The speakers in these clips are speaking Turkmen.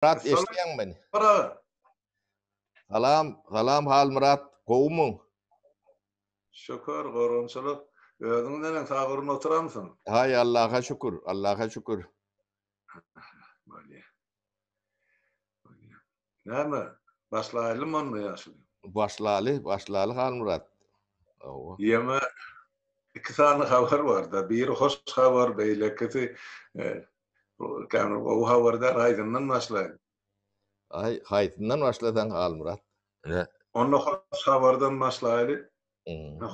Halmyrat eşidýäňmi meni? Salam, salam Halmyrat, gowumy? Şükür, gorgunçylyk. Özüň neneň, sagyryn oturamsyň? Haý, Allaha şükür, Allaha şükür. Bolýar. Bolýar. Näme, başlaýlymy onda ýaşuly? Başlaly, başlaly Halmyrat. Hawa. Ýöne iki sany habar bar-da, biri hoş habar, beýlekisi Bu kän gowy habar däl, haýsyndan başlaýyn? Aý, haýsyndan başlasaň Halmyrat. Ine. Onda hoş habardan başlaýly.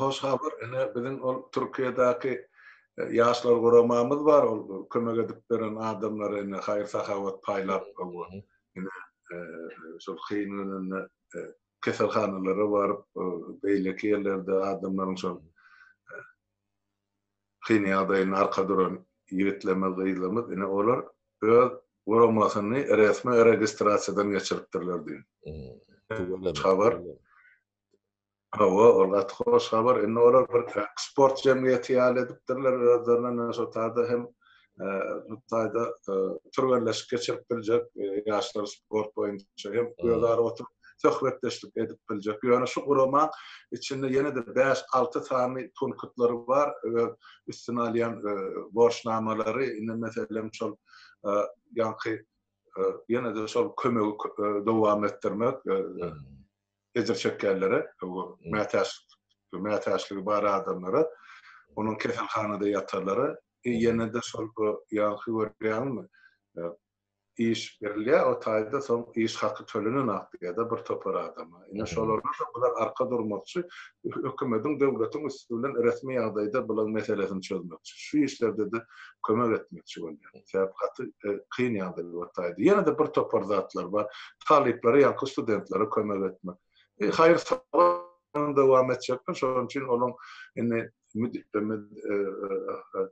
Hoş habar, ine, biziň ol Türkiýedäki Ýaşlar guramamyz bar, ol kömek edip beren adamlara ine haýyr-sahawat paýlap, ine, şol kyn gününde keselhanalara baryp, beýleki ýerlerde adamlaryň şol, kyn ýagdaýynda arka duran ýigitlerimiz, gyzlarymyz, ine, olar öz guramasyny resmi registrasiýadan geçiripdirler diýip. Hoş habar. Hawa, ol gaty hoş habar. Indi olar bir sport jemgyýeti ýaly edipdirler özlerine, näme şo taýda hem Hytaýda türgenleşik geçirip biljek, ýaşlar sport boýunça hem özara oturyp söhbetdeşlik edip biljek. Ýöne şu gurama içinde ýene-de bäş-alty sany punktlary bar, öz üstüne alýan borçnamalary, indi meselem şol ýaňky ýene-de şol kömegi dowam etdirmek, ejir çekýänlere, mätäçlik mätäçligi bar adamlara, onuň keselhanada ýatanlara, ýene-de şol ýaňky görýäňmi, iş berilýär o taýda, soň iş haky tölenen akdiýada bir topar adama. Ine, şolara bular arka durmakçy, hökümetiň, döwletiň üsti bilen resmi ýagdaýda bulaň meselesini çözmekçi. Şu işlerde-de kömek etmekçi bolýar. Sebäbi gaty e, kyn ýagdaý bolýardy. Ýene de bir topar zatlar bar. Talyplara, ýaňky studentlere kömek etmek. E, haýyr salam dowam etjekler. Şonuň üçin olaň indi müdürimiz e, e,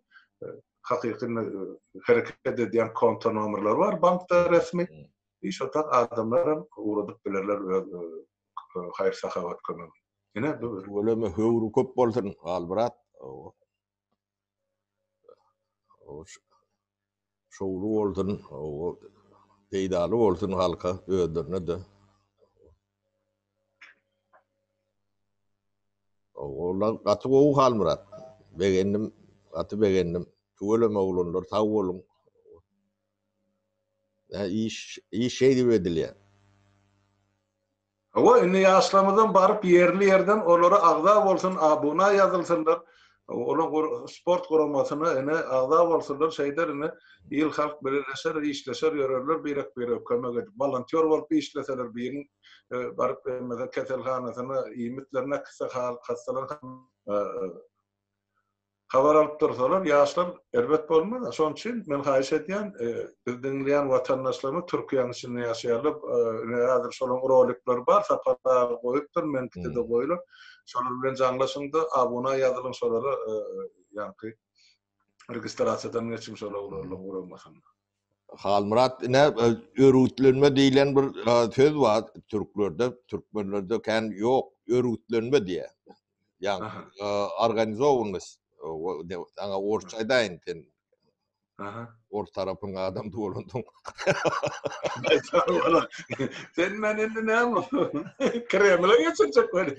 e, hakyky hereket edýän konto nomerleri bar bankda resmi. Hmm. Şo tak adamlar hem ugradyp bilerler öz haýyr sahawat kömegi. Ine bu. Öleme höwri köp bolsun, Galbrat. şowly bolsun, peýdaly bolsun halka, özlerine-de. Oglanlar gaty gowy Halmyrat. Begendim, gaty begendim. Tüweleme oglanlar, sag boluň. Iş, iş şeýdip edilýär. Hawa indi ýaşlarymyzam baryp ýerli ýerden olara agza bolsun abuna ýazylsynlar olaň sport guramasyna ine agza bolsunlar şeýder ine il halk bileleşer işleşer ýörerler birek birege kömek edip wolontýor bolup işleseler biriň baryp keselhanasyna iýmitler näkitse hastalan Habar alyp dursalar ýaşlar erbet bolmaz-a. Şonuň üçin men haýyş edýän, bizi diňleýän watandaşlarymyz Türkiýäniň içinde ýaşaýarlar. Ine häzir şolaryň rolikleri bar, Sapar aga goýupdyr, meniňkide goýlar. Şolar bilen jaňlaşyň-da, abuna ýazylyň şolara, ýaňky registrasiýadan geçiň şolar guramasyna. Halmyrat ine örgütlenme diýlen bir söz bar türklerde, türkmenlerde kän ýok. Örgütlenme diýýär. Ýagny organizowanyst. Saňa orsça aýdaýyn sen. Aha. Ors tarapyň adam dolandyň. Sen meni indi näme? Kremle geçirjek welin.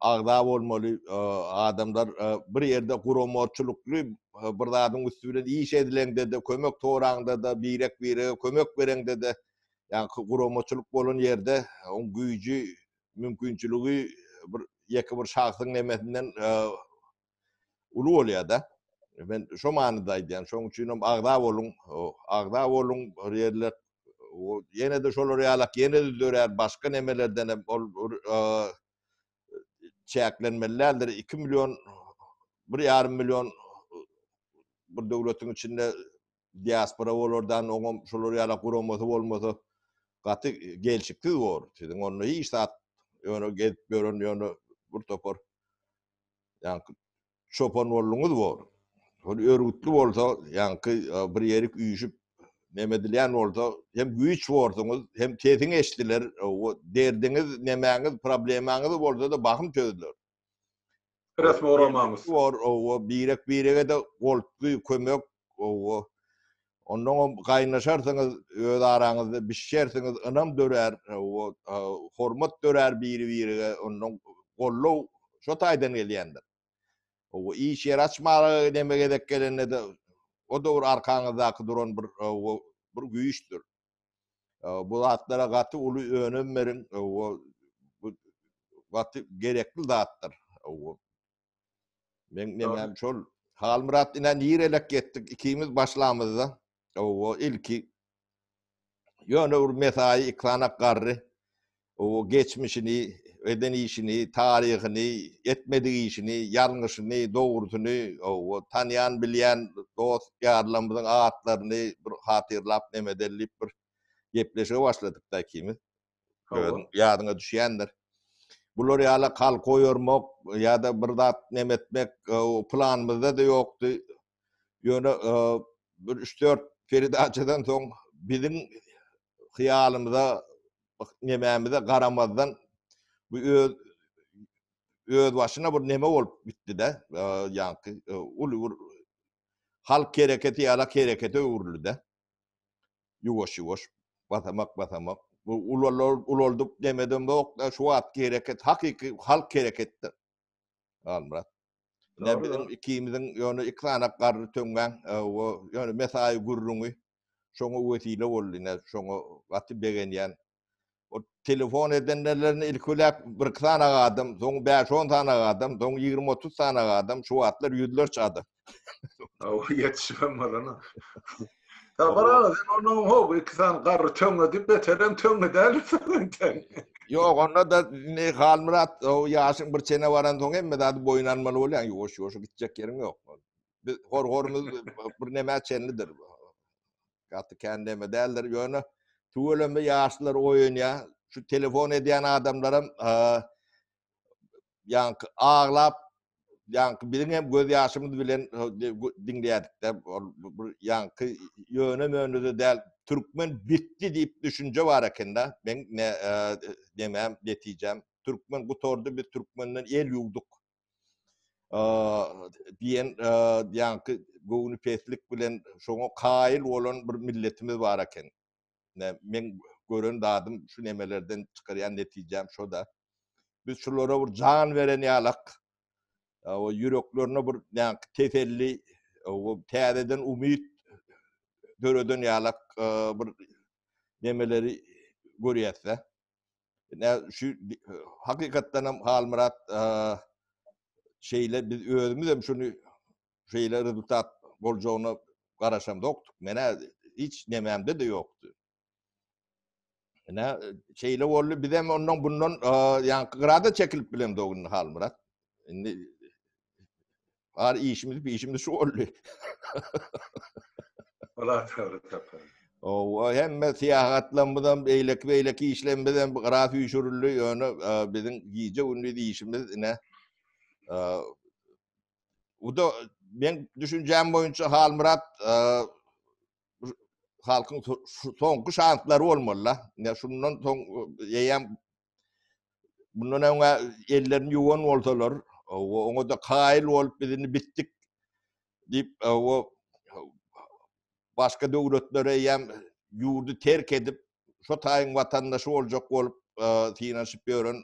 agza bolmaly adamlar bir ýerde guramaçylykly bir zadyň üsti bilen iş edileňde-de, kömek soraňda-da, birek-birege kömek bereňde-de, ýa guramaçylyk bolan ýerde oň güýji, mümkinçiligi bir ýeke bir şahsyň nemesinden uly bolýar-da. Men şo manyda aýdýan. Şonuň üçin hem agza boluň, agza boluň bir ýerler ýene-de şolar ýalak ýene-de dörär başga nemelerden hem ol çäklenmeli däldir. Iki million, bir ýarym million bir döwletiň içinde diaspora bolardan oňam şolar ýalak guramasy bolmasa gaty gelşiksiz bor. Siziň onda hiç zat ýöne gezip ýören ýöne bir topar Ýaňky çopan bolduňyz bor. Hol örgütli bolsa, ýaňky bir ýerik üýşüp neme edilýän bolsa, hem güýç borsuňyz, hem sesiň eşdiler, o derdiňiz, nemäňiz, problemaňyz bolsa-da bahym çözüler. Resmi oramaňyz. Bor, owa, birek-birege-de goltgy kömek, owa. Onnoňam gaýnaşarsyňyz, öz araňyzda bişişersiňiz, ynam dörär, hormat dörär biri-birige, onnoň goldaw şo taýdan gelýändir. Iş ýer açmaga neme gezek gelende-de, o-da bir arkaňyzdaky duran bir bir güýçdür. Bu zatlara gaty uly önem beriň, bu gaty gerekli zatdyr. Men men şol Halmyrat ine nirelek getdik ikimiz başlamyzda. Owo ilki ýöne bir mesaýy ikana garry. Owo geçmişini, eden işini, taryhyny, etmedik işini, ýalňyşyny, dogrusyny, owo tanýan bilýän dost ýarlarymyzyň atlaryny bir hatyrlap nemedelip bir gepleşige başladyk da ikimiz. Hawa. Ýadyňa düşýändir. Bular ýala kalk oýarmak ýa-da bir zat neme etmek planymyzda-da ýokdy. Ýöne bir üç-dört peredaçadan soň biziň hyýalymyza nemämize garamazdan bu öz öz başyna bir neme bolup gitdi-de, ýaňky uly bir halk hereketi ýala herekete öwrüldi-de. Ýuwaş-ýuwaş, basamak-basamak, bu ulaldyp demedemok-da, şu wagtky hereket hakyky halk hereketdir. Halmyrat. Ine biziň ikimiziň ýöne iki sany garry töňňäň ýöne mesaýy gürrüňi şoňa wesile boldy. Ine şoňa gaty begenýän O telefon edenlerlerini ilk öläk bir sany adam, soň 5-10 sany adam, soň 20-30 sany adam, şu wagtlar ýüzlerçe adam. Aw, ýetişmem bolana. Sabar aga, sen onuň hop, iki sany garry töňňe diýip, beterem töňňe däl sen. Ýok, onda da ne Halmyrat, o ýaşyň bir çene baran soň hemme zady boýun almaly bolýaň, ýuwaş-ýuwaş gitjek ýeriň ýok. Biz hor-horumyz bir nämä çenlidir. gaty kän näme däldir. Ýöne tüweleme ýaşlar oýunýar. Şu telefon edýän adamlaram ýaňky aglap ýaňky biziň hem göz ýaşymyz bilen diňleýärdik-de bir ýaňky ýöne mönüde däl türkmen bitdi diýip düşünje bar ekende men ne demem netijem türkmen gutardy biz türkmenden el ýuwduk diýen ýaňky göwni peslik bilen şoňa kaýyl bolan bir milletimiz bar eken. Men gören zadym şu nemelerden çykarýan netijäm şo-da. Biz şulara bir jan beren ýalak, o ýüreklerine bir ýaňky teselli, o täzeden umyt döreden ýalak bir nemeleri görýäs-dä. Nä şu hakykatdan hem Halmyrat şeýle biz özümiz hem şuny şeýle rezultat boljagyna garaşamdokdyk. Menä hiç nemämde de ýokdy. Nä şeýle boldy biz hem ondan bundan ýaňky grada çekilip bilemdogyn Halmyrat. Indi Ar işimiz bir işimiz şu oldu. Ola çagyry tapar. O hemme syýahatlarymyzam, beýleki beýleki işlerimiz hem gara süýşürildi. Ýöne e, biziň gije gündiz işimiz ine e, bu da men düşünjäm boýunça Halmyrat e, halkyň soňky şanslary bolmaly. Ne şundan soň eýem Bundan öňe ellerini yuwan bolsalar, oňa-da kaýyl bolup biz indi bitdik diýip, o başga döwletlere eýýäm ýurdy terk edip, şo taýyň watandaşy boljak bolup synanyşyp ýören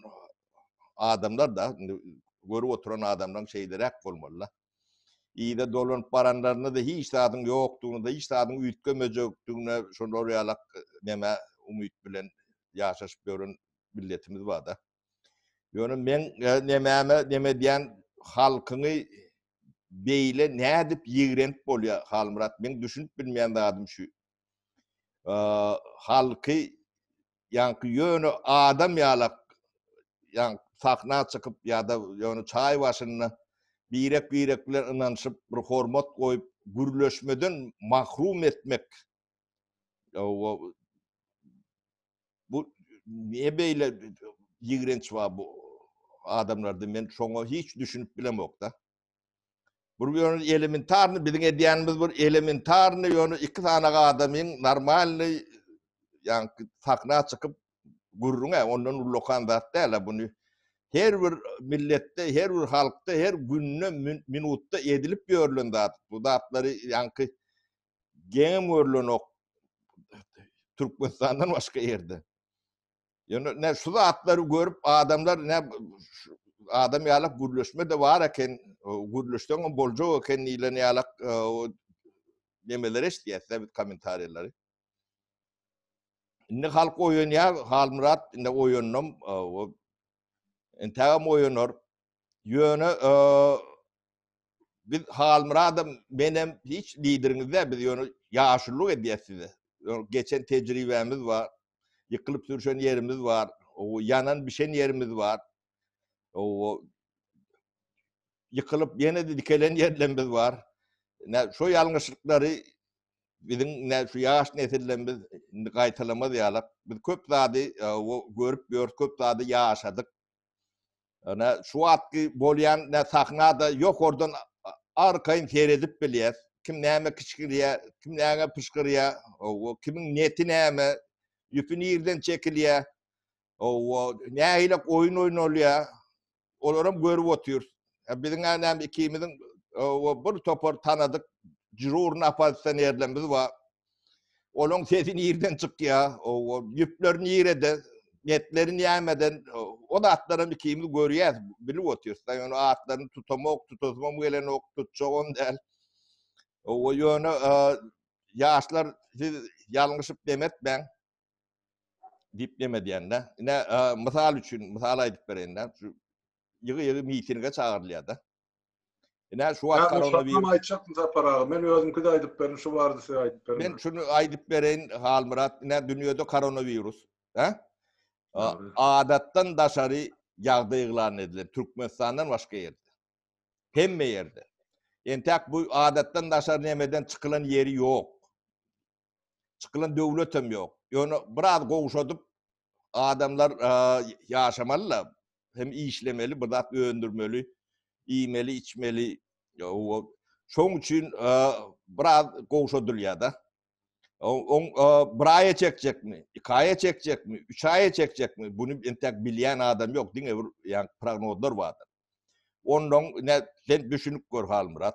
adamlar-da, indi görüp oturan adamlaryň şeýleräk bolmaly-da. Yza dolanyp baranlarynda-da hiç zadyň ýokdugyny-da, hiç zadyň üýtgemejekdigine şolar ýalak nämä umyt bilen ýaşaşyp ýören milletimiz bar-da. Ýöne meň nemäme neme edýän halkyňy beýle nädip ýigrenip bolýar, Halmyrat? Meň düşünip bilmeýän zadym şu. Halky Ýaňky ýöne adam ýalak ýaňk sahna çykyp ýa-da ýöne çaý başynda birek-birek bilen ynanyşyp bir hormat goýup gürleşmeden mahrum etmek ýa-o bu niýe beýle ýigrenç bar bu adamlarda men şoňa hiç düşünip bilemokda. Bir ýöne elementarny biziň edýänimiz bir elementarny ýöne iki sany adamyň normalny ýaňky sahna çykyp gürrüňe ondan ullakan zat däl buny her bir milletde, her bir halkda, her günde, minutda edilip ýörlen zat. Bu zatlary ýaňky geňem görlenok Türkmenistandan başga ýerde. Ýöne ne şu zatlary görüp adamlar ne adam ýalak gürleşme de bar eken, gürleşseň hem boljak eken diýlen ýalak e, nemeler eşitýäs biz kommentariýalary. Indi halk oýanýar, Halmyrat indi oýandym. E, Entägem oýanar. Ýöne e, Biz Halmyradam, menem hiç lideriňiz däl, biz ýöne ýaşulyk edýäs size. Geçen tejribämiz bar, ýykylyp sürşen ýerimiz bar, ýanan bişen ýerimiz bar. Ýykylyp ýene dikelen ýerlerimiz bar. Şu ýalňyşlyklary biziň şu ýaş nesillerimiz indi gaýtalamaz ýaly. Biz köp zady görüp ýörüs, köp zady ýaşadyk. Ana şu wagtky bolýan nä sahnada ýokardan arkaýyn seredip bilýäs. Kim näme kiçgirýär, kim näme pyşgyrýar, owo, kimiň neti näme, ýüpi nireden çekilýär, owo, nähili oýun oýnalýar, olaram görüp otyrys. Biziň anam ikimiziň owo bir topar tanadyk džurny oppozisionerlerimiz bar. Olaň sesi nirden çykýa? O ýüpler nirede? Netleri nämeden? O zatlaram ikimiz görýäs, bilip otyrys. Ýöne atlaryny tutamok, tutasymam gelenok, tutjagam däl. O ýöne ýaşlar siz ýalňyşyp demetmäň. Diýip neme diýende, ine, mysal üçin, mysal aýdyp bereýin-dä, şu ýygy-ýygy mitinge çagyrylýar-da. Ine, şu wagt koronawirus... Şatnam aýtjakmy Sapar aga? Men özümki-de aýdyp berin, şu barada siz aýdyp beriň. Men şuny aýdyp bereýin, Halmyrat, ine, dünýede koronawirus, hä? Adatdan daşary ýagdaý yglan edilen, Türkmenistandan başga ýerde. Hemme ýerde. Entäk bu adatdan daşary nemeden çykylan ýeri ýok. çykylan döwletem ýok. Ýöne biraz gowşadyp adamlar ýaşamaly-da, hem işlemeli, bir zat öndürmeli, iýmeli, içmeli. Şoň üçin biraz gowşadylýar-da. Oň bir aýa çekjekmi, iki aýa çekjekmi, üç aýa çekjekmi, buny entek bilýän adam ýok, diňe bir ýa prognozlar bardyr. Onnoň sen düşünip gör Halmyrat.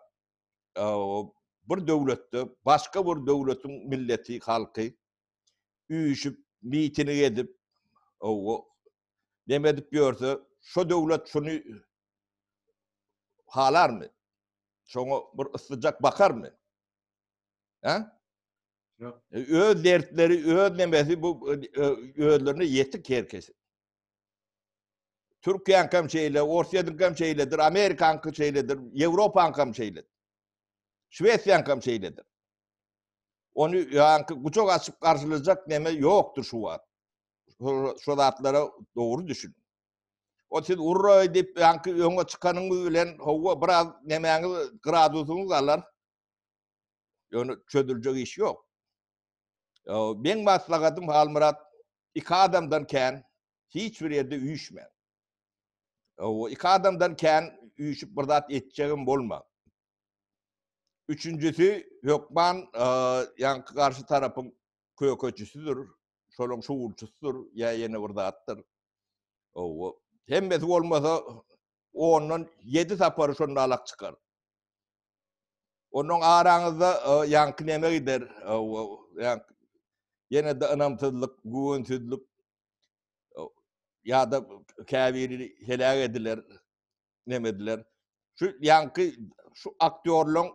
bir döwletde başga bir döwletiň milleti, halky üýşüp, miting edip, neme edip ýörse, şo döwlet şuny halarmy? Şoňa bir yssyjak bakarmy? Hä? Ýok. Öz dertleri, öz nemesi bu özlerine ýetik her kesi. Türkiýäňkem şeýle, Orsýetiňkem şeýledir, Amerikaňky şeýledir, Ýewropaňkam şeýledir. Şwesiýaňkam şeýledir. Ony ýaňky guçak açyp garşylajak neme ýokdur şu wagt. Şu zatlara dogry düşün. O siz urra edip ýaňky öňe çykanyňyz bilen howa biraz nemäňiz gradusyňyz galar. Ýöne çözüljek iş ýok. Meň maslahatym Halmyrat, iki adamdan kän hiç bir ýerde üýşme. O iki adamdan kän üýşüp bir zat etjegim bolma. Üçünjisi hökman e, ýa garşy tarapyň kökeçisidir, şonuň şuwulçysydyr ýa ýene bir zatdyr. Owo. Hemmesi bolmasa ondan 7 sapary şonda alak çykar. Onuň araňyzda ýaňky näme gider? Ýene-de ynamsyzlyk, güwensizlik ýa-da käbiri heläk ediler, näme ediler. Şu ýaňky şu aktýorlaryň,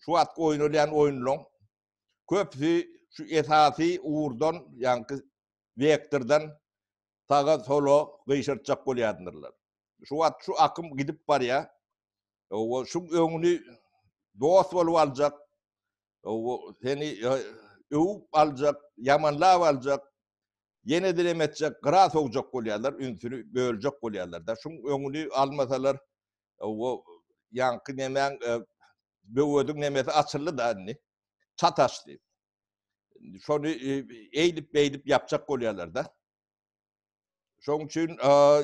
şu wagt oýnalýan oýunlaryň köpüsi şu esasy ugurdan, ýaňky wektordan saga sola gyşartjak bolýardyrlar. Şu wagt şu akym gidip barýar. Owo şuň öňüni dost bolup aljak. Owo seni öwüp aljak, ýamanlap aljak. Ýene dilem etjek, gyra sogjak bolýarlar, ünsüni böljek bolýarlar-da. Şuň öňüni almasalar, owo ýaňky nemäň böwediň nemesi açyldy-da indi. Çat açdy. şony eýdip beýdip ýapjak bolýarlar da. Şoň üçin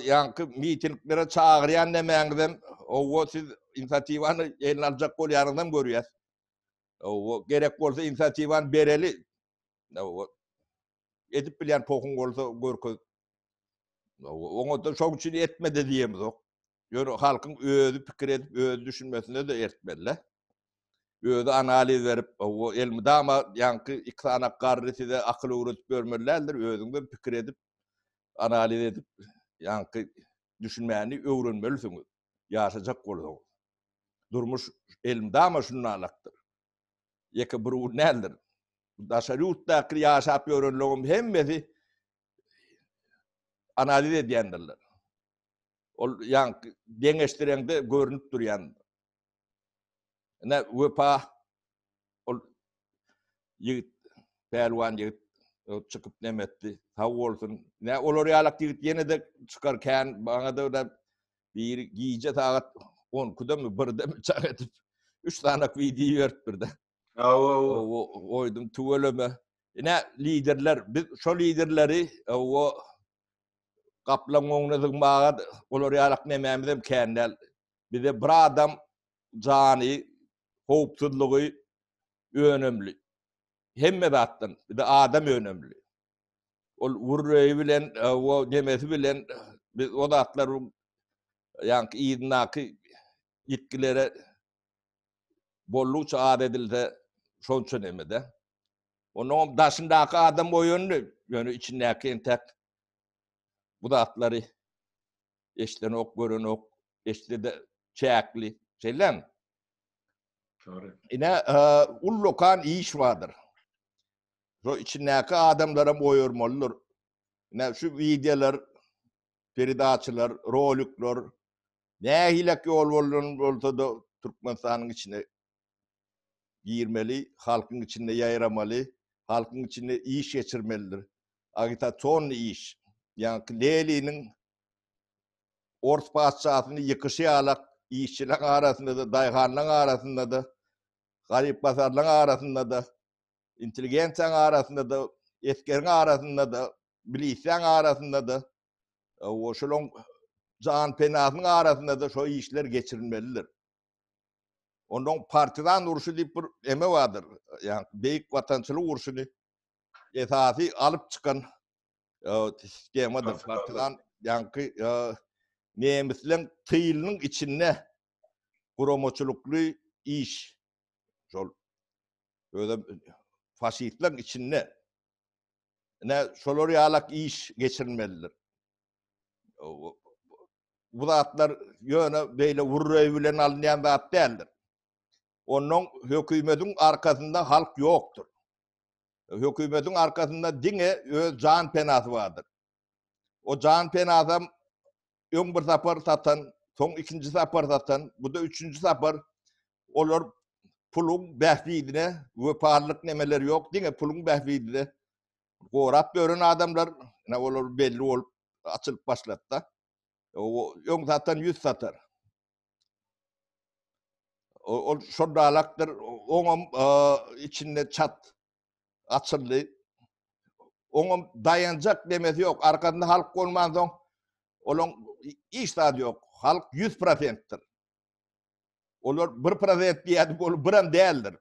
ýaňky mitinglere çagyrýan nämäňiz hem owa siz inisiatiwany eline aljak bolýaryňyz hem görýär. Owa gerek bolsa inisiatiwany bereli. Owa edip bilýän pohuň bolsa görkez. Owa oňa da şoň üçin etmedi diýemizok. Ýöne halkyň özi pikir edip, özi düşünmesine-de ertmeli-le. Özi analiz berip, o elmydama ýaňky iki sany garry size akyl öwredip ýörmeli däldir, özüň hem pikir edip, analiz edip, ýaňky düşünmäni öwrenmelisiňiz, ýaşajak bolsaňyz. Durmuş elmydama şundanlykdyr. Ýeke bir gün däldir. Daşary ýurtdaky ýaşap ýörenleriň hemmesi analiz edýändirler. Ol ýaňky deňeşdireňde görünip durýan. Ine wepa ol ýigit pälwan ýigit çykyp nem etdi. Sag bolsun. Ne olar ýalak ýigit ýene de çykar kän bana da da bir gije sagat 12-de mi 1-de mi çak edip 3 sanak video ýerip birde. Awa awa oýdum tüweleme. Ine liderler biz şo liderleri awa Gaplaň öňüne zygmaga olar ýalak nemämizem kän däl. Bize bir adam jany, howpsuzlygy önemli. Hemme zatdan bize adam önemli. Ol wurreýi bilen, o nemesi bilen biz o zatlar ýaňky yzyndaky ýitgilere Bollukça az edilse, şonça neme-de. Onuňam daşyndaky adam oýandy, ýöne içindäki entek bu zatlary eşidenok, görenok, eşitse-de çäkli. Şeýlemi? Çary. Ine, ullakan iş bardyr. Şu içindäki adamlaram oýarmalydyr. Ine, şu wideolar, peredaçalar, rolikler, Nähilek ýol bolan bolsada Türkmenistanyň içine girmeli, halkyň içinde ýaýramaly, halkyň içinde iş geçirmelidir. Agitasion iş. Ýaňky Leliniň ors patyşasyny ýykyşy ýalak işçileň arasynda-da, daýhanlaň arasynda-da, garyp-gasarlaň arasynda-da, intelligensiýaň arasynda-da, esgeriň arasynda-da, milisýaň arasynda-da O şulan can penasynyn arasynda-da şo işler geçirilmelidir. Ondan partizan urşy diýip bir eme bardyr. Ýa beýik watançylyk urşyny esasy alyp çykan e, sistemadyr. Partizan ýaňky e, nemisleň tyýlynyň içinde guramaçylykly iş. Şol özem faşistleň içinde Ne şolar ýalak iş geçirilmelidir. Bu zatlar ýöne beýle urreý bilen alynýan zat däldir. Ondan hökümetiň arkasynda halk ýokdur. Hökümetiň arkasynda diňe öz jan penasy bardyr. O jan penasam öň bir sapar satan, soň ikinji sapar satan, bu-da üçünji sapar. Olar puluň bähbidine wepalylyk nemeleri ýok, diňe puluň bähbidine gorap ýören adamlar, ýa olar belli bolup açylyp başlady-da. Öň satan ýüz satar. Ol şol dalakdyr, oňam içinde çat açyldy. Oňam daýanjak demesi ýok. Arkasynda halk bolmansoň, olaň hiç zady ýok. Halk 100%-dir. Olar 1% diýýärdik, ol biram däldir.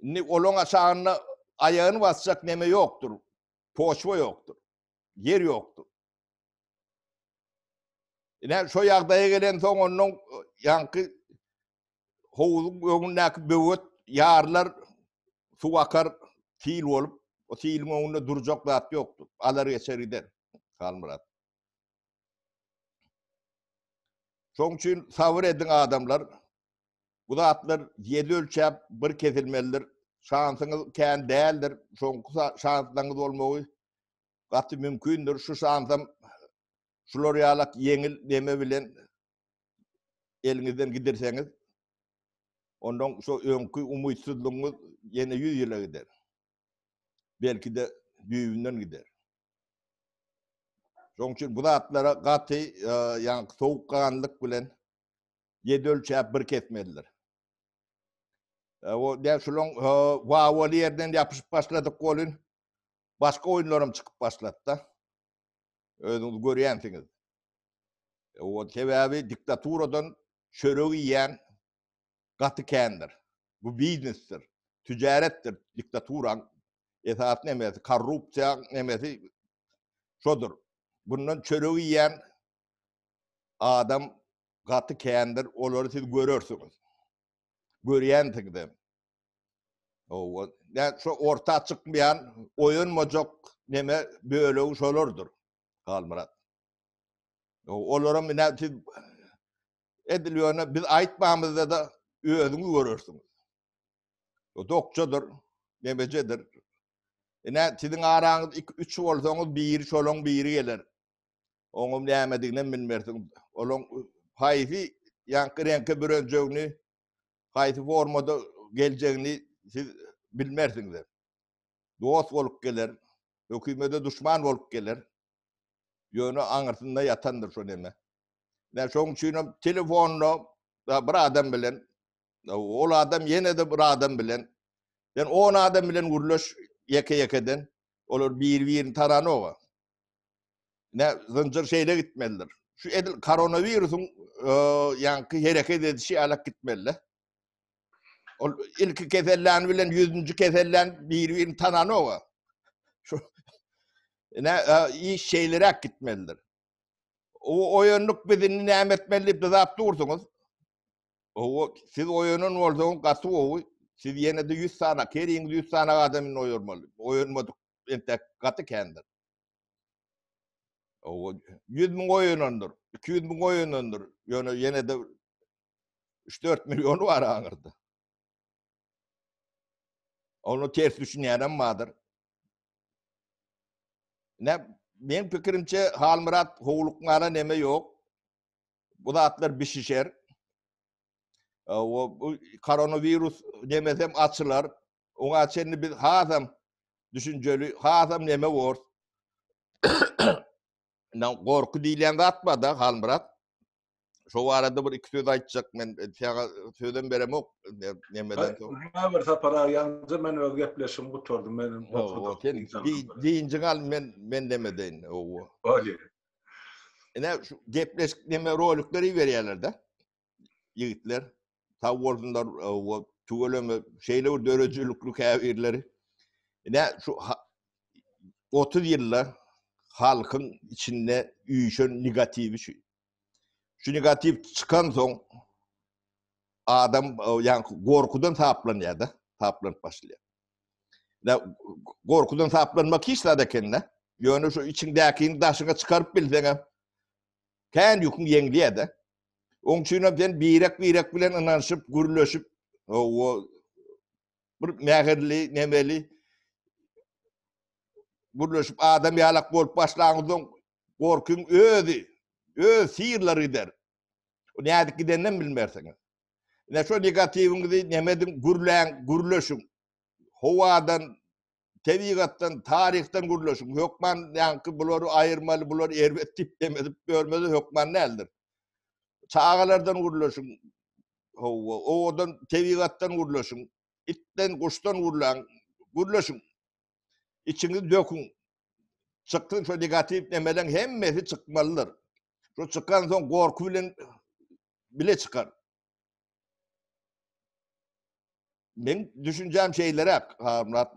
Indi olaň aşagynda aýagyny basjak neme ýokdur. Poçwa ýokdur. Ýer ýokdur. Ine, şo ýagdaýa gelensoň, ondan ýaňky howuzyň öňündäki böwet ýarylar, suw akar, sil bolup, o siliň öňünde durjak zat ýokdur. Alar geçer gider. Halmyrat. Şoň üçin sabyr ediň adamlar. Bu zatlar ýedi ölçäp bir kesilmelidir. Şansyňyz kän däldir. Soňky şanslaňyz bolmagy gaty mümkindir. Şu şansam şular ýalak ýeňil neme bilen eliňizden gidirseňiz, ondan şu öňki umytsyzlygyňyz ýene ýüz ýyla gider. Belki-de düýbünden gider. Şoň üçin bu zatlara gaty, e, ýaňky sowukganlyk bilen ýedi ölçäp bir kesmelidir. E, o däl şulaň e, wawaly ýerden ýapyşyp başladyk bolun. Başga oýunlarym çykyp başlady-da. Özüňiz görýänsiňiz. E, o sebäbi diktaturadan çörek iýen gaty kändir. Bu biznesdir, tijaretdir. Diktaturaň esas nemesi, korrupsiýa nemesi şodur. Bundan çörek iýen adam gaty kändir. Olary siz görersiňiz. Görýänsiňiz hem. Owa, ne şu orta çykmaýan, oýanmajak neme bölegi şolardyr. Halmyrat. Olara mine siz edil ýöne biz aýtmamyzda da özüňiz görersiňiz. O dokçadyr, nemejedir. Ine siziň araňyz 2-3 bolsaňyz biri şolaň biri geler. Oňam nämedigine bilmersiň. Olaň haýsy ýaňky reňke bürenjegini haýsy formada geljegini siz bilmersiňiz. Dost bolup geler, hökümede duşman bolup geler. Ýöne aňyrsynda ýatandyr şo neme. Ýa şoň üçin hem telefonda bir adam bilen ol adam ýene-de bir adam bilen sen on adam bilen gürleş ýeke-ýekeden olar bir-birini tananoga. Ne zynjyr şeýle gitmelidir. Şu edil koronawirusyň e, ýaňky hereket edişi alak gitmeli. Ol ilki kesellän bilen 100-nji kesellän bir-birini tananoga. Şu ne e, iş şeýleräk gitmelidir. O oýanlyk bizini näme etmeli diýip dizap dursuňyz. O siz oýanan bolsaňyz gaty gowy. Siz ýene-de 100 sany, keriňiz 100 sany adamyny oýarmaly. Oýanmadyk entek gaty kändir. Owa, ýüz müň goýunandyr, iki ýüz müň goýunandyr, ýöne ýene-de üç-dört milliony bar aňyrda. Ony ters düşünýänem bardyr. Näm, meň pikirimçe, Halmyrat howlukmana neme ýok. Bu zatlar bişişer. Owa, bu koronawirus nemesem açylar. Oňa çenli biz hasam düşünjeli, hasam neme bor. Nan gorky diýilýän zat bar-da, Halmyrat. Şo barada bir iki söz aýtjak men, saňa sözem beremok nemeden. Näme bir sapar aýança men öz gepleşigimi gutardym. Men gorkudym. Sen diýinjiň al men men näme deýin. Owa. Bolýar. Ine şu gepleşik näme rolikleri berýärler-de. ýigitler. Sag bolsunlar we tüweleme şeýle bir döredijilikli käbirleri. Ine şu 30 ýylda halkyň içinde üýşen negatiwi şu. Şu negatiw çykan soň adam ýa gorkudan saplanýar da, saplanyp başlaýar. Da gorkudan saplanmak hiç zat ekende. Ýöne şu içiňdäkini daşyňa çykaryp bilseňem, kän ýüküň ýeňlýär-de. Oň üçinem sen birek-birek bilen ynanyşyp, gürleşip, o bir mähirli, nemeli gürleşip adam ýalak bolup başlaňyzdan gorkyň özi, öz sirleri gider. O nädik gidenden bilmersiňiz. Ne şu negatiwiňizi nemediň, gürläň, gürleşiň. Howadan tebigatdan, taryhdan gürleşiň. Hökman ýaňky bulary aýyrmaly, bular erbet diýip dem edip ýörmeli hökman däldir. Çagalardan gürleşiň. Hawa, owadan tebigatdan gürleşiň. Itden, guşdan gürläň. Gürleşiň. Içiňizi döküň. Çykgyn şu negatiw demeleň hemmesi çykmalydyr. Şu çykan soň gorky bilen bile çykar. Men düşünjäm şeylerek.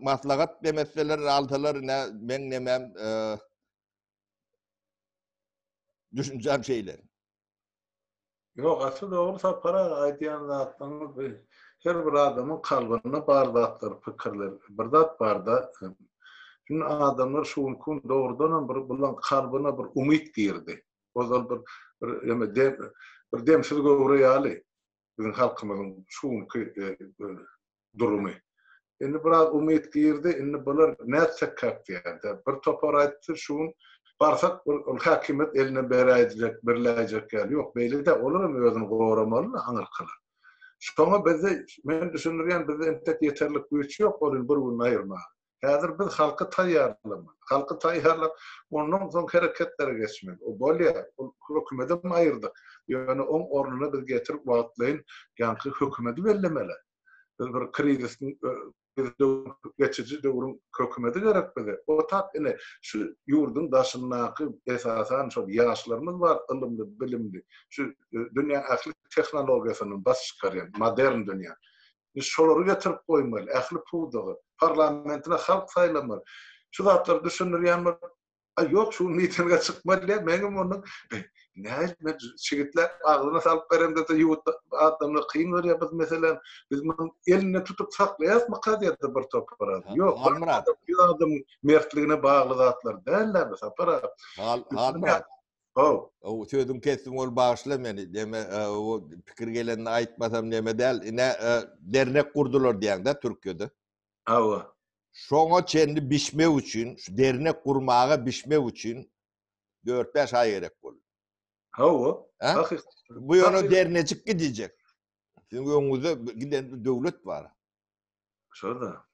Maslahat demesseler alsalar ne men nemem e, düşünjäm şeyler. Yok asıl doğru sapara aytyan zatlarınız bir her bir adamın kalbinde bar zatlar, fikirler. Bir zat bar da e, Şimdi adamlar şu gün doğrudan bir bulan kalbine bir umut girdi. Ozal bir bir ýöne dem bir demsiz göwre ýaly biziň halkymyzyň şu günki durumy. Indi biraz umyt girdi, indi bular nätsekkäk diýýärdi. Bir topar aýtdy, şu gün barsak ol häkimiýet eline beräýjek, birläýjek ýaly. Ýok, beýle-de, olaram özüni goramaly-da aňyrkylar. Şoňa bizde, men düşündirýän, bizde entek ýeterlik güýç ýok, ol indi bir gününi aýyrmaga. Häzir biz halky taýýarlamaly. Halky taýýarlap, ondan soň hereketlere geçmeli. O bolýar. Ol hökümetem aýyrdyk. Ýöne oň ornuna biz getirip wagtlaýyn ýaňky hökümedi bellemeli. Biz bir krizisiň geçiji döwrüň hökümedi gerek bize. Otap ine şu ýurduň daşyndaky esasan şol ýaşlarymyz bar ylymly, bilimli. Şu dünýäň ähli tehnologiýasyny basyp çykarýan, modern dünýä. Biz şolary getirip goýmaly, ähli pudagy, parlamentine halk saýlamaly. Şu zatlary düşündirýän bolup, A ýok, şu gün mitinge çykmaly diýip, meňem onuň näet men çigitläp agzyna salyp beremde-de ýurt adamlar kyn görýär biz meselem, biz muny elinde tutup saklaýasmyka diýip bir topar adam. Ýok, Halmyrat. Ýa-da mertligine bagly zatlar däl-dä bu Sapar aga. Halmyrat. How. O sözün kesdim ol bağışla meni. Deme e, o pikir gelenini aytmasam neme del. Ne e, dernek kurdular diyen de Türkiye'de. Awa. Şoňa çenli bişmek üçin, şu dernek gurmaga bişmek üçin 4-5 ay gerek boldu. Hawa. Bu ýöne dernejik gidecek. Sizin öňüňizde giden döwlet bar. Şoda.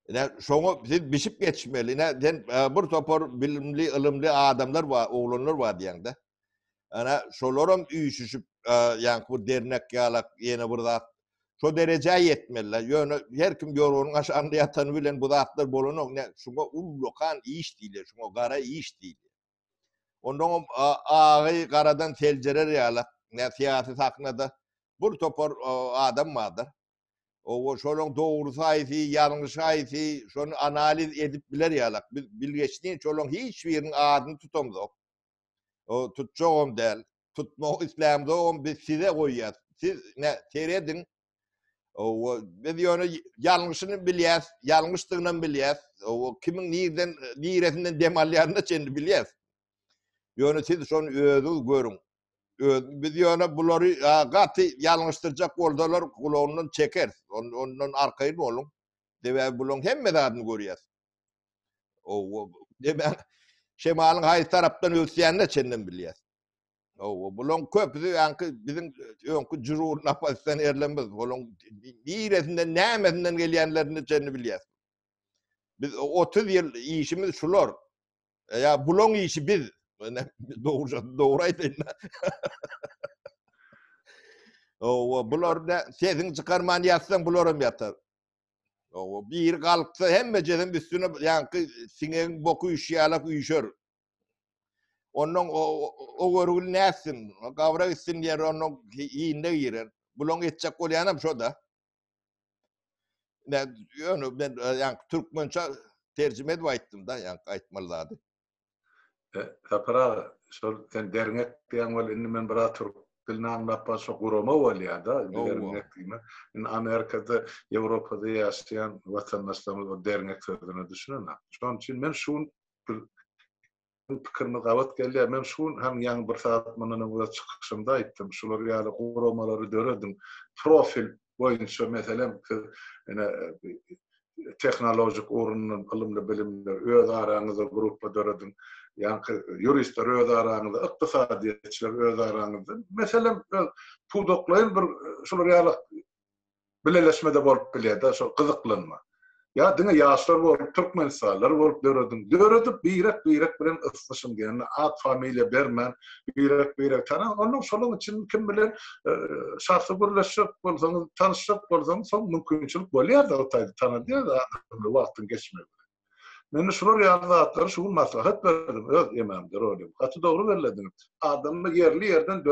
Ine şoňa siz bişip geçmeli. Ine sen e, bir topar bilimli, ylymly adamlar bar, oglanlar bar diýende. Ana şolar hem üýşüşip, e, ýaňky bir dernek ýalak, ýene bir zat. Şo derejä ýetmeliler. Ýöne her kim ýorganyň aşagynda ýatany bilen bu zatlar bolanok. Ne şuňa ullakan iş diýilýär, şuňa gara iş diýilýär. Ondan agy garadan seljerer ýaly, ne syýasy sahnada bir topar adam bardyr. Owo şolaryň dogrusy haýsy, ýalňyşy haýsy, şony analiz edip biler ýaly. Biz bilgeşleýin şolaryň hiç biriniň adyny tutamzok. O tutjagam däl. Tutmak islämzogam biz size goýýas. Siz ne serediň, O biz ýöne ýalňyşyny bilýäs, ýalňyşdygyny bilýäs. O kimiň nirden, niresinden dem alýanyny çenli bilýäs. Ýöne siz şony özüňiz görüň. Öz, biz ýöne bulary gaty ýalňyşdyrjak bolsalar gulagyndan çeker. On, ondan arkaýyn boluň. Sebäbi bularyň hemme zadyny görýäs. O, o demek, şemalyň haýsy tarapdan ösýänini çenden bilýäs. Owa, bulaň köpüsi ýaňky biziň öňki jurur napasdan erlenmez. Bulaň niresinden, nämesinden gelýänlerini çenli bilýäs. Biz 30 ýyl işimiz şular. E, ýa bulaň işi biz. Mene dogry dogry aýdaýyn. Owa, bular da sesiň çykarman ýatsaň bular hem ýatar. Owa, bir galksa hemme jezem üstüne ýaňky siňegiň boku üşýälek üşer. Ondan o, o görgül näsin, gabra gitsin diýer, ondan iýinde girer. Bulaň etjek bolýanam şo-da. Ne, ýöne ben ýa türkmençe terjime edip aýtdym-da, ýa aýtmaly zady. E, Sapar aga, şol sen derňek diýen bol, indi men biraz türk dilini aňlap başa gurama bolýar-da, derňek diýme. Indi Amerikada, Ýewropada ýaşaýan watandaşlarymyz o derňek sözüne düşünenok. Şonuň üçin men şu Siziň pikiriniz gabat gelýär. Men şu gün hem ýaňy bir sagat mundan öňüň çykyşymda aýtdym. Şular ýaly guramalary dörediň. Profil boýunça, meselem, siz ine tehnologik ugrundan ylymly-bilimli öz araňyzda gruppa dörediň. Ýaňky ýuristler öz araňyzda, ykdysadyýetçiler öz araňyzda. Meselem, pudaklaýyn bir şular ýaly Bileleşmede bolup bilýärda şol gyzyklanma. Ýa diňe ýaşlar bolup türkmenistanlylar bolup dörediň. Döredip birek birek bilen ysnyşyň diýende at familiýa bermän birek birek tana onda şolaň üçin kim bilen şahsy gürleşjek bolsaňyz tanyşjak bolsaňyz soň mümkinçilik bolýarda o taýda tanadýarda wagtyň geçmegi bilen. Men şular ýaly zatlary şu gün maslahat berdim öz emamde rolim. Gaty dogry bellediňiz. Adamlar ýerli ýerden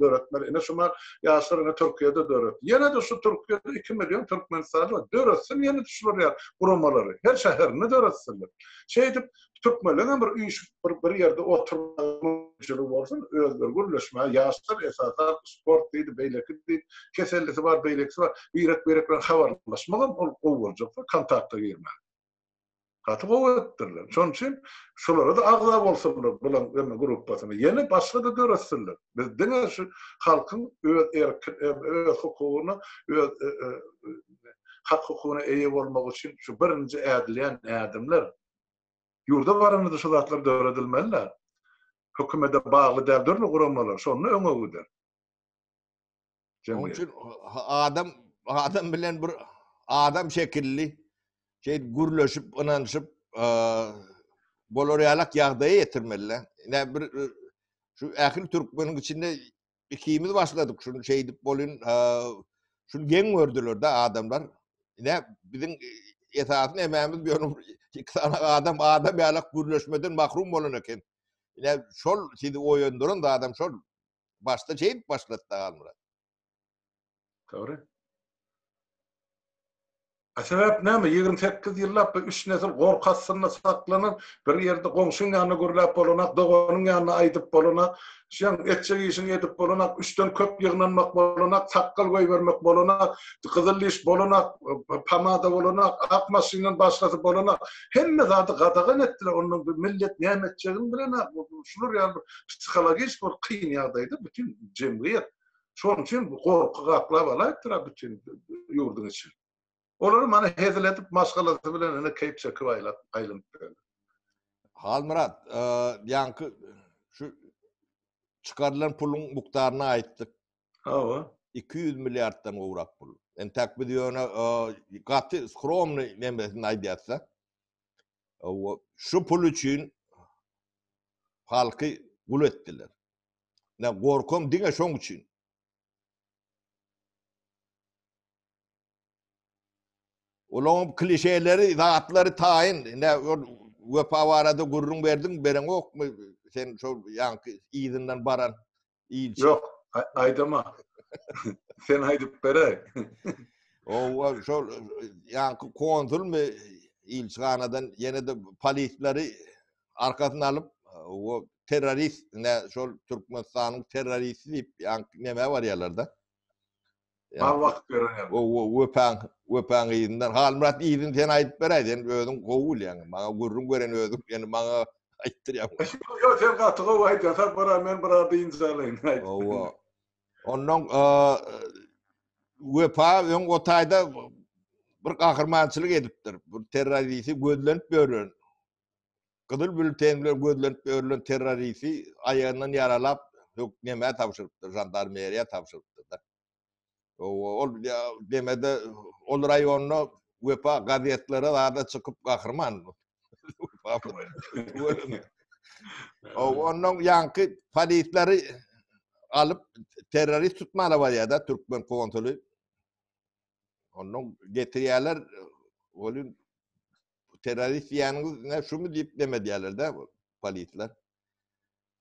döretmeli. Ine şumal ýaşlar ine Türkiýede döretdi. Ýene-de şu Türkiýede iki million türkmenistanly bar. Döretsin ýene-de şular ýaly guramalary. Her şäherinde döretsinler. Şeýdip türkmenleň hem bir üýşüp bir bir ýerde oturmaga mümkinçiligi bolsun. Özleri gürleşmäge ýaşlar esasan sport diýdi, beýleki diýdi. Kesellisi bar, beýlekisi bar. Birek-birek bilen habarlaşmak hem ol gowy boljak we kontakta girmäge. Gaty gowy edipdirler. Şonuň üçin şolara-da agza bolsunlar bulan emme gruppasyna. Ýene başga-da döretsinler. Biz diňe şu halkyň öz erki, öz hukugyna, öz hak-hukugyna eýe bolmagy üçin şu birinji ädilýän ädimler. Ýurda baranymyzda şu zatlar döredilmeli-dä. Hökümete bagly däl dürli guramalar, şonda öňe gider. Şonuň üçin adam adam bilen bir adam şekilli şey gürleşip, ynanyşyp bolar ýalak ýagdaýa ýetirmeli. Ne bir şu ähli türkmeniň içinde ikimiz başladyk şunu şey edip bolun şunu geň gördüler de adamlar. Ne biziň esasyn emämiz bir ýolum iki tane adam adam ýalak gürleşmeden mahrum bolan eken. Ne şol sizi oýandyran da adam şol Başda jeýip başlatdy Halmyrat. Dogry. A sebäp näme? Ýigrimi sekiz ýyllap bu üç nesil gorky astynda saklanan, bir ýerde goňşyň ýanyna gürläp bolanak, doganyň ýanyna aýdyp bolanak, şeň etjek işiňi edip bolanak, üçden köp ýygnanmak bolanak, sakgal goýbermek bolanak, gyzyl diş bolanak, pomada bolanak, ak maşyndan başgasy bolanak. Hemme zady gadagan etdiler. Ondan millet näme etjegini bilenak. Şular ýaly bir psihologik bir kyn ýagdaýda bütin jemgyýet. Şonuň üçin bu gorky gaplap alaýypdyr a bütin ýurduň içini. Olar mana hezil edip maşgalasy bilen ine keýp çekip aýlap aýlanyp ýörler. Halmyrat, ýaňky şu çykarylan puluň mukdaryny aýtdyk. Hawa. 200 milliarddan gowrak pul. Entäk biz ýöne gaty skromny nemesini aýdýarsa, Şu pul üçin halky gul etdiler. Ne gorkom diňe şoň üçin. Olaň klişeleri, zatlary taýyn. Ne wepa barada gürrüň berdiň, bereňokmy? Sen şol ýaňky yzyndan baran Inçe. Ýok, aýdama. Sen aýdyp bere. Owa, şol ýaňky konsulmy ilçihanadan ýene-de polisleri arkasyna alyp, o terrorist, ne şol Türkmenistanyň terroristi diýip, ýaňky nämä barýarlar-da? Bar wagt berener. Gowy, wepaň, wepaň yzyndan. Halmyrat yzyny sen aýdyp beräý, sen özüň gowy bilýäň. Maňa gürrüň beren özüň, ýöne maňa aýtdyrýaň. Ýok, sen gaty gowy aýdýaň. Sapara men bir az dynç alaýyn. Gowy. Onnoň Wepa öň o taýda bir gahrymançylyk edipdir. Bir terrorisi gözlenip ýören Gyzyl bültenler gözlenip ýörlen terroristi aýagyndan ýaralap hökneme tabşyrypdyr, žandarmeriýa tabşyrypdyr-da. Ol demede ol raýonda wepa gazetlere zada çykyp gahryman. Ondan ýanky polisleri alyp terrorist tutmana barýar-da türkmen konsuly. Ondan getirýärler, olin Bu terrorist diýeniňiz ne şumy diýip neme diýerler-de polisler.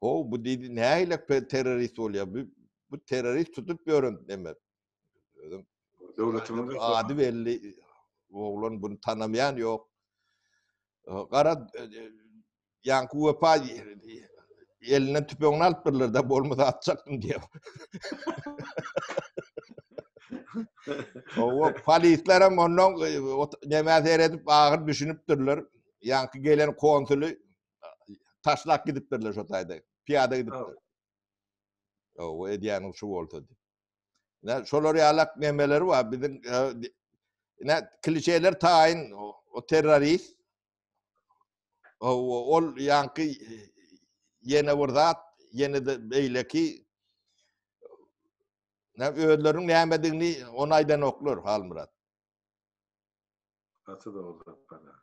Ho, bu diýdi, nähile terrorist bolýar? Bu, bu terrorist tutup ýören neme? Özüm döwletimiz ady belli oglan bunu tanamaýan ýok. Gara Ýaňky wepa elinden tüpeňini alyp birlerde bolmasa atjakdym diýip. Owa polisler hem ondan e, näme seredip agyr düşünipdirler. Ýaňky gelen konsuly taşlap gidipdirler şu taýda. Piýada gidipdir. Owa edýän şu bolsa diýip. Ne şolar ýalak nemeleri bar. Biziň e, ne klişeler taýyn o terrorist Ol ýaňky ýene bir zat, ýene-de beýleki özleriniň nämedigini ony aýdanoklar, Halmyrat. Gaty dogry zat bana.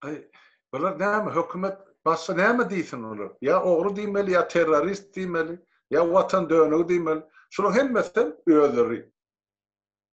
Aý, bular näme, hökümet başga näme diýsin olar? Ýa ogry diýmeli, ýa terrorist diýmeli, ýa watan dönügi diýmeli. Şularyň hemmesi hem özleri.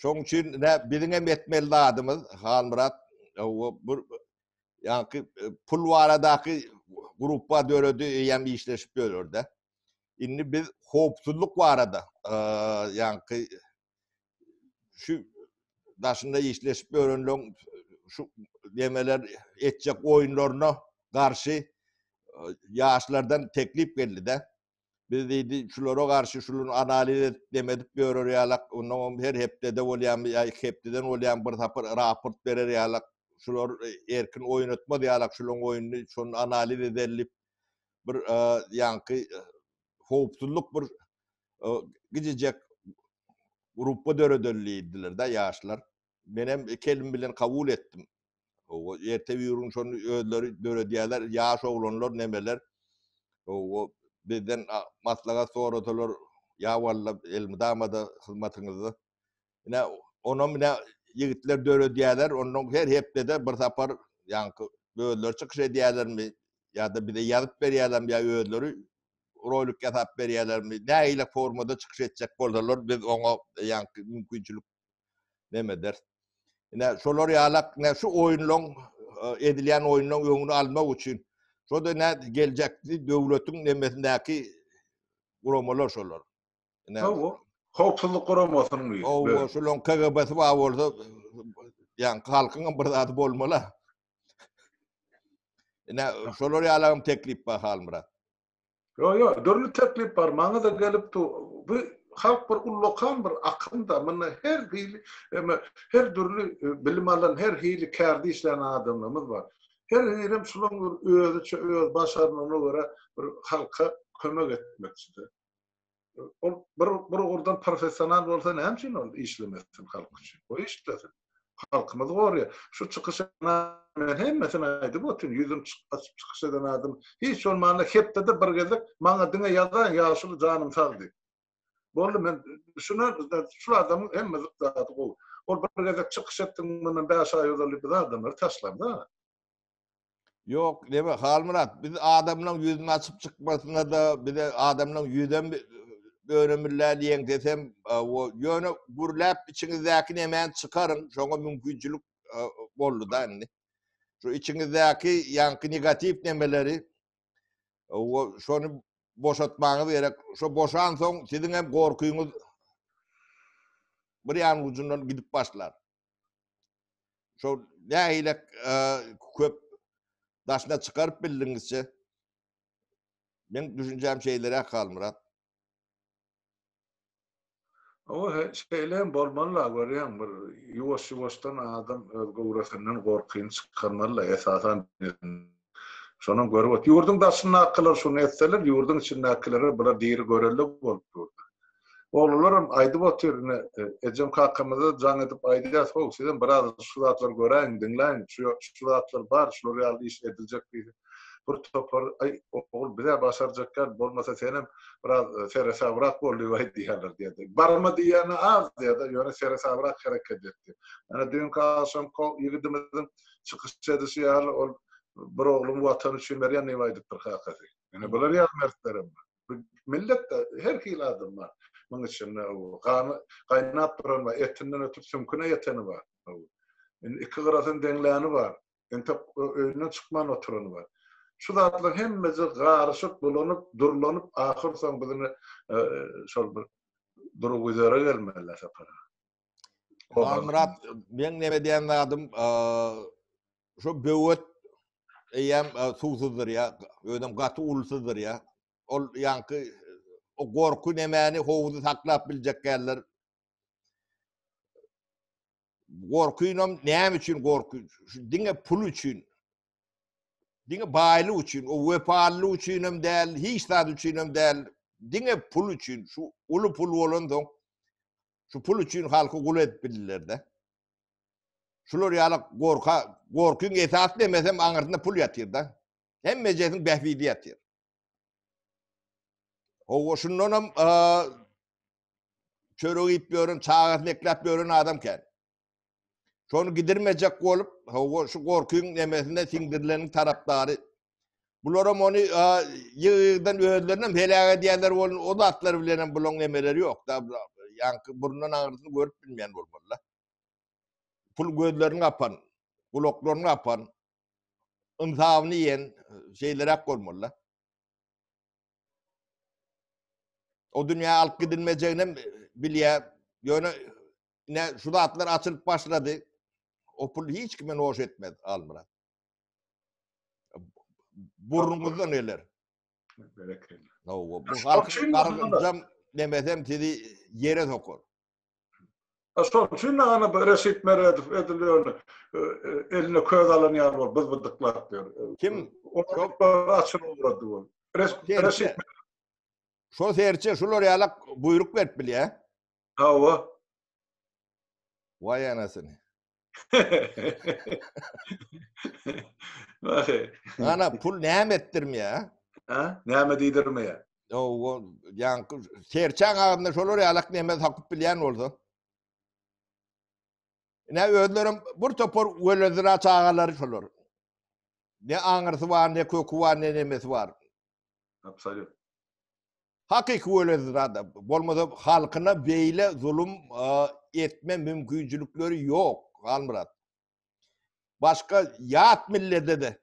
Şoň üçin nä biziň hem etmeli zadymyz Halmyrat o bir ýaňky e, pul baradaky gruppa döredi eýäm işleşip ýörürdi. Indi biz howpsuzlyk barada e, ýaňky şu daşynda işleşip ýörenleň şu demeler etjek oýunlaryna garşy e, ýaşlardan teklip geldi-de. Biz diýdi, şulara garşy şular analiz edip, dem edip ýörer ýalak. Onnoň hem her hepdede bolýamy ýa iki hepdeden bolýamy bir sapar raport berer ýalak. Şular erkin oýnatmaz ýalak şularyň oýnuny, şony analiz ederin diýip, bir ýaňky howpsuzlyk bir gijijek gruppa döredelin diýdiler-de ýaşlar. Men hem kelim bilen kabul etdim. O erte ýürin şonu özleri döredýärler, ýaş oglanlar nemeler. O bizden maslahat soradylar, ýa walla elmydama-da hyzmatyňyzda. Ine, onam ine ýigitler döredýärler, ondan her hepdede bir sapar ýaňky özleri çykyş edýärlermi ýa-da bize ýazyp berýärlermi ýa özleri rolik ýasap berýärlermi, nähili formada çykyş etjek bolsalar biz oňa ýaňky mümkinçilik neme ederis. Ine şolar ýalak ne şu oýunlaryň edilýän oýunlaryň öňüni almak üçin şo da ne geljekki döwletiň nemesindäki guramalar şolar. Ine howpsuzlyk guramasynyň diýip. Owa, şolaryň KGB-si bar bolsa, ýa halkyň hem bir zady bolmaly. Ine şolar ýalak hem teklip bar Halmyrat. Yo yo, dürli teklip bar, maňa da gelip dur. Bu halk bir ullakan bir akymda, munda her hili, eme her dürli e, bilim alan, her hili kärde işlän adamlarymyz bar. Her birem şulaň bir özüçe öz başarnygyna görä bir halka kömek etmekçidir. ol bir bir ugurdan professional bolsa näme üçin ol işlemesin halk üçin? Goý işlesin. Halkymyzy gorýar. Şu çykyş men hemmesini aýdyp otyryn. Ýüzüm çyk açyp çykyş eden adam. Hiç bolmanda hepdede bir gezek maňa diňe ýazaň ýaşuly janym sag diýip. Boldy men şuna şu adamyň hemme zady gowy. Ol bir gezek çykyş etdiň mundan 5 aý ozal biz adamlary taşlanda. Yok deme Halmyrat biz adamlaryň ýüzüni açyp çykmasyna da bize adamlaryň ýüzem önemillä diýen desem o ýöne gürläp içiňizdäki nemäni çykaryň şoňa mümkinçilik boldy da indi. Şu içiňizdäki ýaňky negatiw nemeleri o şony boşatmaňyz gerek. Şo boşan soň siziň hem gorkyňyz bir ýan ucundan gidip başlar. Şol nähili e, köp daşyna çykaryp bildiňizçe? Men düşünjäm şeýleräk Halmyrat. Ama he- şeýle hem bolmaly la görýäň bir ýuwaş-ýuwaşdan adam öz göwresinden gorkyny çykarmaly la esasan Şonam görüp ot. Ýurduň daşyndakylar şuny etseler, ýurduň içindäkilere bular diri görelde bolup durdy. Oglularym aýdyp otyr, ine, ejem-kakamyza jaň edip aýdýas, how, sizem biraz şu zatlary göräýiň, diňläýiň, şu ýok, şu zatlar bar, şular ýaly iş ediljek diýdi. Bir topar, aý, ogul, biz-ä başarjakýarys, bolmasa senem biraz seresabrak bol diýip aýdýarlar diýdi. Barma diýýäni az diýdi, ýöne seresabrak hereket etdi. Ana, düýnki agşamky ýigidimiziň çykyş edişi ýaly ol bir ogluň watan üçin berýändigini aýdypdyr kakasy. Ýöne bular ýaly mertlerem bar. Bu milletde her hili adam bar. Muň içinde gany gaýnap duran bar, etinden ötüp süňküne ýeteni bar. Indi iki gyrasyny deňläni bar. Entek öýünden çykman oturany bar. Şu zatlaryň hemmesi garyşyp, bulanyp, durlanyp, ahyrsoňy biz indi şol bir durguzere gelmeli Sapar aga. Murat, men näme diýen zadym, şu böwet eýem suwsuzdyr ýa, özem gaty ulsuzdyr ýa. Ol ýaňky o gorky nemäni howuzy saklap biljek geldir. Gorkynam näme üçin gorky? Şu diňe pul üçin. Diňe baýlyk üçin, o wepaly üçin hem däl, hiç zat üçin hem däl. Diňe pul üçin, şu uly pul bolan soň Şu pul üçin halky gul edip bildiler-de. Şular ýaly gorka, gorkyň esasy demesem aňyrsynda pul ýatyr-da. Hemmejesiň bähbidi ýatyr. Owa şundanam çörek iýip ýören, çagasyny ekläp ýören adam kän. Şony gidirmejek bolup, hawa şu gorkyň nemesine siňdirileniň tarapdary. Bularam ony ýygy-ýygydan özlerinem heläk edýänler bolun, o zatlar bilenem bulaň nemeleri ýok-da. Ýaňky burundan aňyrsyny görüp bilmeýän bolmalylar. Pul gözlerini gapan, gulaklaryny gapan, ynsabyny ýen şeýleräk bolmalylar. O dünýä alyp gidilmejeginem bilýär. Ýöne Ine şu zatlar açylyp başlady. O pul hiç kime noş etmez Almyrat. Burnuňyzda neler? Berekella. No, bu halkyň gargynjam demesem sizi yere sokar. Şol üçin nana Reşit Meredow edilýär. E, e, eline köz alan ýaly bol, biz bydyklap diýär. E, Kim? Şol açyp ugrady bol. Reşit Şo serçe şular ýalak buýruk berip bilýär. Hawa. Waý anasyny. Wahe. Ana pul näme etdirmeýär? Ha? Näme diýdirmeýär? Owo, ýaňky serçäň agzynda şolar ýalak näme sakyp bilýän bolsa. Ne özlerim bir topar welezira çagalary şolar. Ne aňyrsy bar, ne köki bar, ne nemesi bar. Absolut. Hakyky weledir adam. Bolmasa halkyna beýle zulum etme mümkinçilikleri ýok, Halmyrat. Başga ýat millete de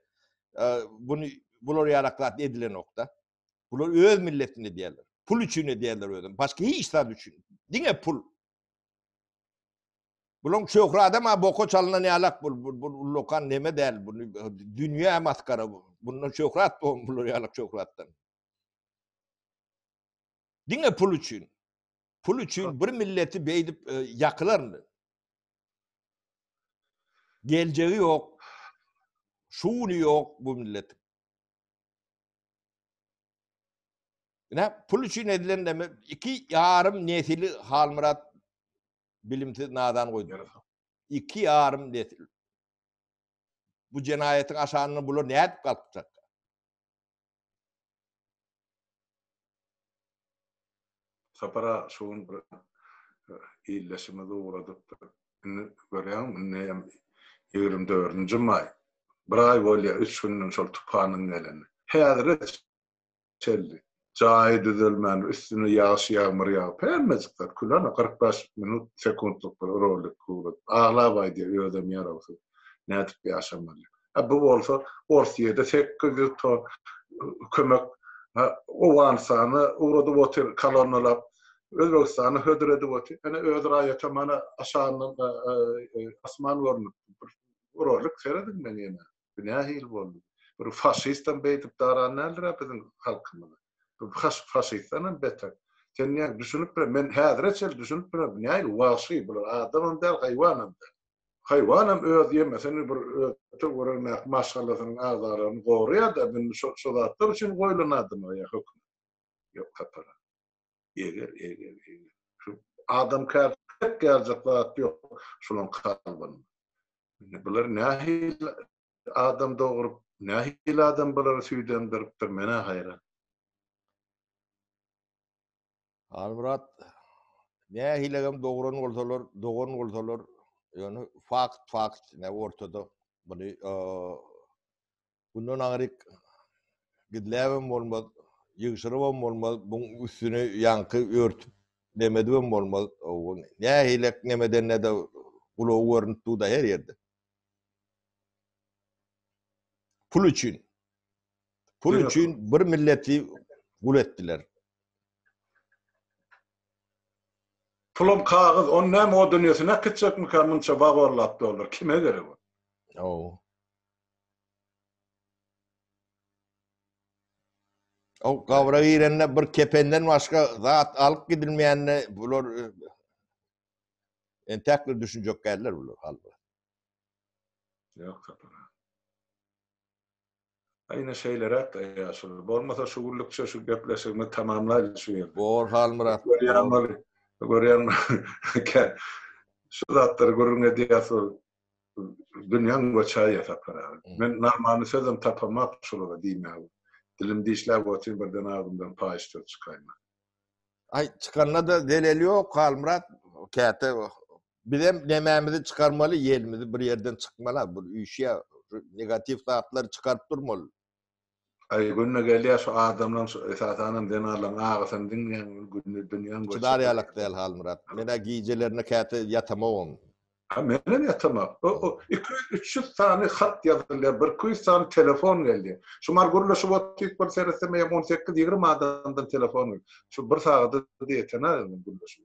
bunu bular ýarak zat edilenokda. Bular öz milletini edýärler. Pul üçin edýärler özüm. Başga hiç zat üçin. Diňe pul. Bularyň şöhra adam ha boka çalynan ýalak bul. Bu lokan neme däl bu. Dünýä maskara bu. Bundan şöhrat bu bular ýalak şöhratdan. Diňe pul üçin. Pul üçin bir milleti beýdip e, ýakylarmy? Geljegi ýok. Şu güni ýok bu millet. Ne pul üçin edilen näme? Iki ýarym nesili Halmyrat bilimsiz nadan goýdu. Iki ýarym nesil. Bu jenaýatyň aşanyny bular nädip galkjaklar? Sapara şu gün bir ildeşimizi ugradypdyr. Indi görýäňmi, indi hem ýigrimi dördünji maý. Bir aý bolýar, üç günden şol tupanyň geleni. Häzire çenli jaýy düzelmän, üstüne ýagyş-ýagmyr ýagyp, hemmejik zat kül, ana, kyrk bäş minut, sekuntlyk bir rolik ugradyp, aglap aýdýar, özem ýarawsyz, nädip ýaşamaly. A bu bolsa ors ýedi sekiz ýüz ton kömek Owganystana ugradyp otyr kolonnalap. Özbegistana hödür edip otyr. Ene öz raýata mana aşagyndan asman görnüp dur. Uralyk serediň men ýene. Bu nähili boldy? Bir faşistam beýdip daran däldir a biziň halkymyz. Bu faşistdanam beter. Sen näme düşünip bilen? Men häzire çenli düşünip bilen bu nähili wagşy bular adamam däl haýwanam däl. Haýwanam öz ýemesini bir öte görermäk maşgalasynyň agzalaryny goraýar-da, indi şo şo zatlar üçin goýlan adamlar ýa hökümet. Ýok tapara. Eger eger eger. Şu adamkär pek gerjek zat ýok şulaň kalbynda. Indi bular nähili adam dogrup, nähili adam bulary süýdemdiripdir menä haýran. Halmyrat nähilegem dogran bolsalar, dogan bolsalar, ýöne fakt fakt ne ortada. Muny bundan aňryk gizläbem bolmaz, ýygşyrybam bolmaz, buň üstüni ýaňky örtüp nemedibem bolmaz. Nähilek nemedende-de gulagy görnüp dur-da her ýerde. Pul üçin. Pul Döne üçin kul. bir milleti gul etdiler. Pulam kagyz, ony näme o dünýesine äkitjekmikä munça wawallap dollar, kime gerek ol? Ow. Ow gabra girende bir kependen başga zat alyp gidilmeýänine bular e, entäk bir düşünjek geldiler bular halbuki. Ýok, kapara. Ine şeýleräk ýaşuly. Bolmasa şu günlükçe şu gepleşigimizi tamamlaýlyň şu ýerde. Bor Halmyrat. Görýäň ol. Görýäň. Şu zatlary gürrüň edýäs ol. Dünýäň göçäýýä Sapar aga. Men normally sözem tapamok şulara diýmäge. Dilim dişläp otyryn birden agzymdan paýyş söz çykaýmaly. Aý çykanda-da zeleli ýok Halmyrat. Käte Bizem nemämizi çykarmaly, ýelimizi bir ýerden çykmaly, bu üýşýä, şu negatiw zatlary çykaryp durmaly. Aý günde gelýä şu adamlaň şu esasanam zenanlaň agysyny diňleýän gün günde dünýäň göçýä. Çydar ýalak däl Halmyrat. Menä gijelerine käte ýatamogam. Ha menem ýatamok. O o iki ýüz üç ýüz sany hat ýazylýa bir iki ýüz sany telefon gelýä. Şu mar gürleşip otyk bir seretsem eýýäm on sekiz ýigrimi adamdan telefon gelýä. Şu bir sagada diýetena gürleşip.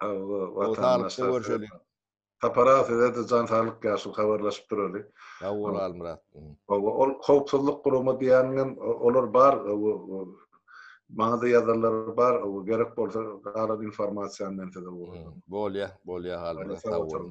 Sag saglyk görşeliň. Tapara sizede jan saglyk ýaşuly habarlaşyp duraly. Sag bol Almyrat. Hawa ol howpsuzlyk gurama diýäniňem olar bar maňada ýazanlar bar gerek bolsa galan informasiýany men size ugradyryn. Bolýa bolýa Almyrat sag bol.